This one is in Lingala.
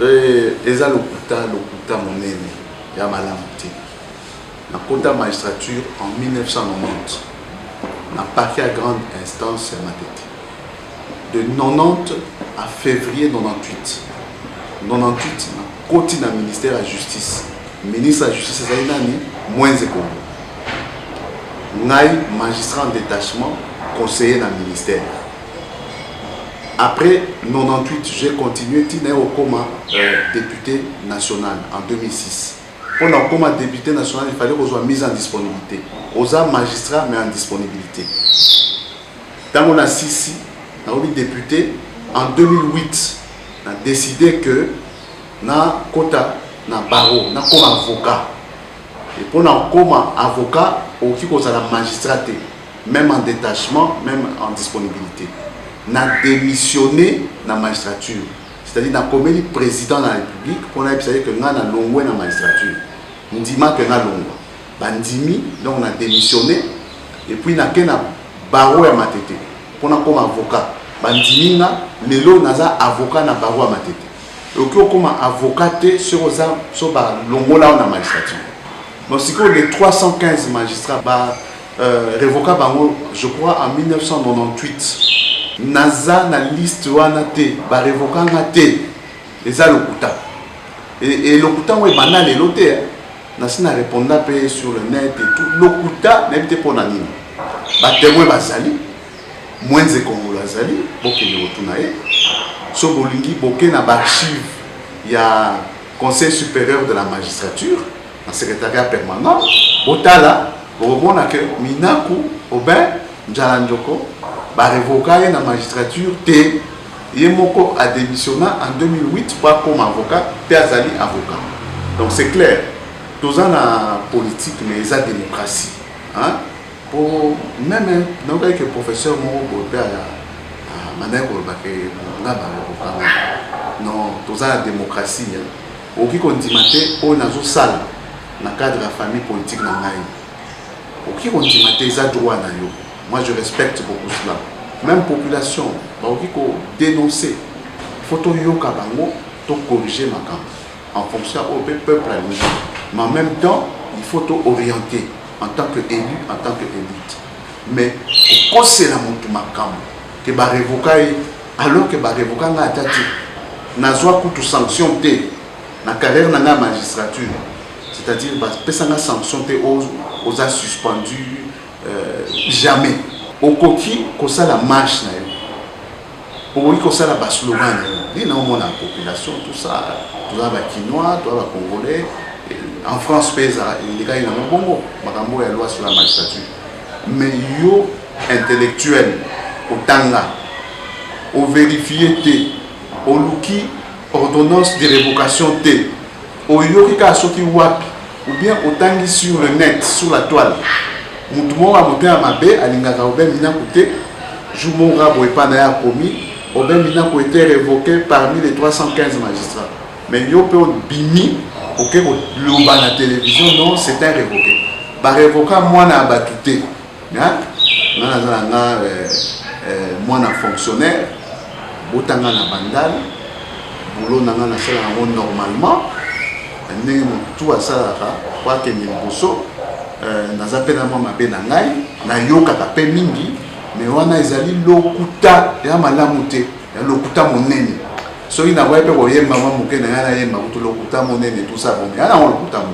Eh eza lokuta lokuta monene ya malamu te na kota magistrature en 1990 na parquet ya grande instance ya Matete de 90 à fevrier 98 98 na koti na ministère ya justice ministre ya justice ezali nani Mwenze Kongo ngai magistrat en détachement conseiller na ministère Après 98 j'ai continue ti naye kokoma depute national en 2006. Pona kokoma depute national il fallait kozwa mise en disponibilite. Oza magistrat mais en disponibilite. Tango na sisi nakomi depute en 2008 na decide que na kota na barreau nakoma avocat. Et pona kokoma avocat okoki kozala magistrat te. meme en detachement, meme en disponibilité. Na démissionné na magistrature, c'est-à-dire na komeli président de la République pour na yebisa que nga na longwe na magistrature. Ndima que na longwa. Ba ndimi, donc na démissionné et puis na kena barreau ya matete pour na comme avocat. Ba ndimi nga lelo naza avocat na barreau ya matete. okoki okoma avocat te soki oza so balongola yo na magistrature donc sikoyo le 315 magistrat ba Euh, revoka bango je crois en 1998 naza na liste wana te barevoka nga te eza lokuta e lokuta yango ebanda lelo te nasi na reponda mpe sur le net et tout lokuta nayebi te mpo na nini batemoin bazali mwenze kongolo azali bokende kotuna ye so bolingi boke na baarchive ya conseil supérieur de la magistrature na secretariat permanent botala bokomona ke minaku obin njala njoko barevoka ye na magistrature te ye moko adémissionna en 2008 mpo akoma avocat mpe azali avocat donc c'est clair toza na politique mais eza démocratie hein? mpo meme nayokaki ke professeur moko boye mpe abandaki koloba ke nga bakokanga non toza na démocratie Okoki kondima te oyo nazo sala na cadre ya famille politique na ngai. Okoki kondima te eza droit na yo. Moi je respecte beaucoup cela. Meme population bakoki ko denoncer. Il faut toyoka bango, to corriger makambo en fonction ya oyo pe peuple alingi. Mais en meme temps, il faut to orienter en tant que elu, en tant que elite. Mais kokosela mutu makambo que ba revoka ye, alors que ba revoka nga ata te nazwa kutu sanction te na carrière na nga ya magistrature c'est-à-dire bapesa nga sanction te oza suspendu euh, jamais okoki kosala marche na yo okoki kosala baslogan na yo nde naomona population tout ça toza bakinois toza bacongolais en france mpe ezala elekaki nango bongo makambo ya loi sur la magistrature Mais yo intellectuel otanga o verifier te oluki ordonnance de revocation te oyoki kaka soki wapi ou bien otangi sur le net sur la toile mutu moko ya motema mabe alingaka obe minaku te jour moko kaka boye epa na ye akomi obe minaku ete revoque parmi les 315 magistrats Mais yo pe obimi oke ko loba na television non c'est un revoqué. Ba revoka mwana ya batu te. Hein? Nga naza na nga euh, euh, mwana fonctionnaire botanga na bandal boulot na nga nasala yango normalement ndenge motu asalaka po akende liboso euh, naza mpe na mwa mabe na ngai nayokaka mpe mingi me wana ezali lokuta ya malamu te ya lokuta monene soki nakoya mpe koyemba mwa moke na ngai nayemba kutu lokuta monene tout ça bon ya nango lokuta monene